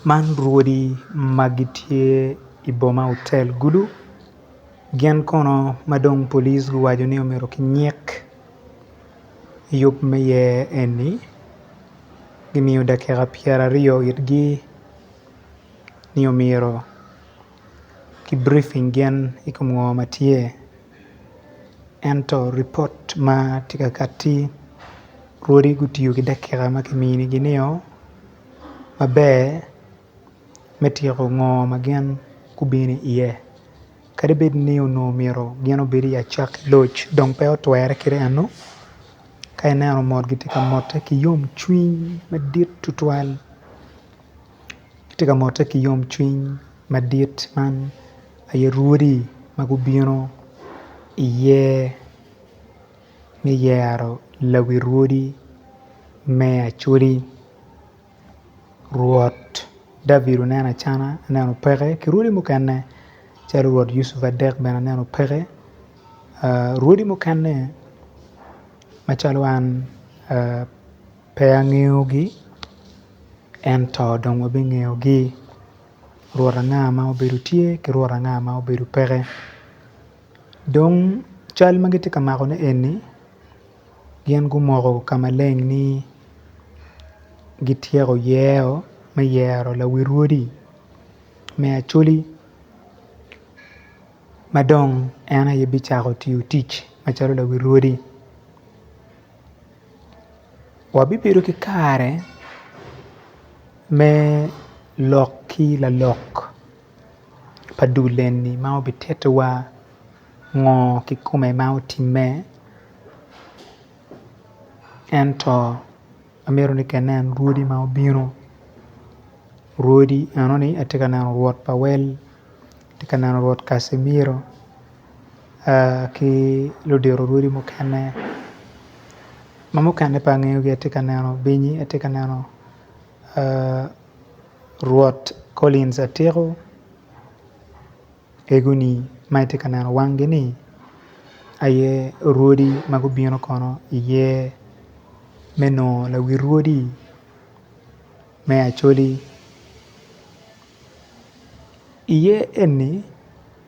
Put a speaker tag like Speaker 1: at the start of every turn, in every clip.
Speaker 1: Man rwodi ma gitye i boma otel gulu gin kono ma dong pulic guwaco ni omyero kinyik i yub ma iye eni gimiyo dakika pyeraryo itgi ni omyero ki brifing gin i kom ngo ma tye Ento ripot ma tye ka kati rwodi gutiyo ki dakika ma kiminigi nio maber me tyeko ngo ma gin gubino iye kadi bed ni onongo myero gin obed i acakki ki loc dong pe otwere kite enu ka ineno mot gitye ka motte ki yomcwiny madit tutwal. Atye ka motte ki yomcwiny madit man aye rwodi ma gubino iye me yero lawi rwodi me Acholi Rwot David oneno acana aneno peke ki rwodi mukene calo Rwot Yucuf Adek bene aneno peke rwodi mukene macalo an Pe angeyogi, ento dong wabingeyogi, Rwot anga ma obedo tye ki Rwot anga ma obedo peke. Dong cal ma gitye ka makone eni, gin gumoko ka maleng ni gityeko yero me yero lawi rwodi me Acholi ma dong en aye bicako tiyo tic macalo lawi rwodi. Wabibedo ki kare me lok ki lalok pa dul eni ma obititowa ngo kikome ma otime ento amito ni ka inen rwodi ma obino rwodi enoni atye ka neno rwot pawel atye ka neno rwot Kaci miro. ki ludito orwodi mukene ma mukene pe angeyogi atye ka neno binyi, atye ka neno rwot Collins Atiku egoni ma itye ka neno wangi ni aye orwodi ma gubino kono iye me nongo lawi rwodi me Acholi iye eni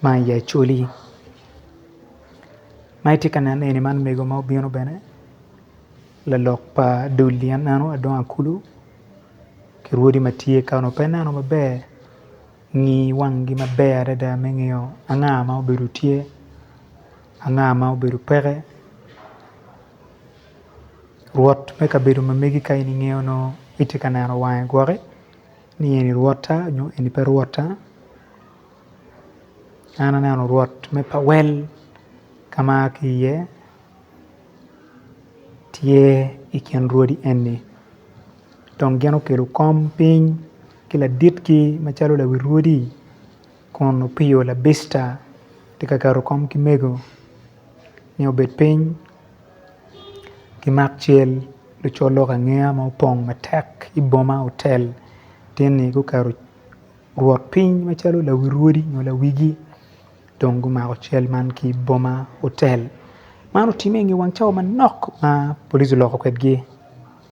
Speaker 1: Man aye acholi ma itye ka neno eni man mego ma obino bene lalok pa dul ni aneno adongo akulu ki rwodi ma tye ka onongo pe ineno maber ngi wangi maber adada me ngeyo anga ma obedo tye anga ma obedo peke rwot me kabedo ma megi ka in ingeyo nongo itye ka neno wange gwoki ni eni rwota nyo eni pe rwota An aneno rwot me pawel ka ma aa ki iye tye i kin rwodi eni dong gin okelo kom piny ki laditki macalo lawi rwodi kun opiyo labita tye ka keto kom ki mego nyo obed piny ki mak cal lucol lok angeya ma opong matek iboma hotel tye ni guketo Rwot piny macalo lawi rwodi nyo lawigi dong gumako cal man ki i boma otel man otimme i nge wang cawa manok ma police oloko kwedgi.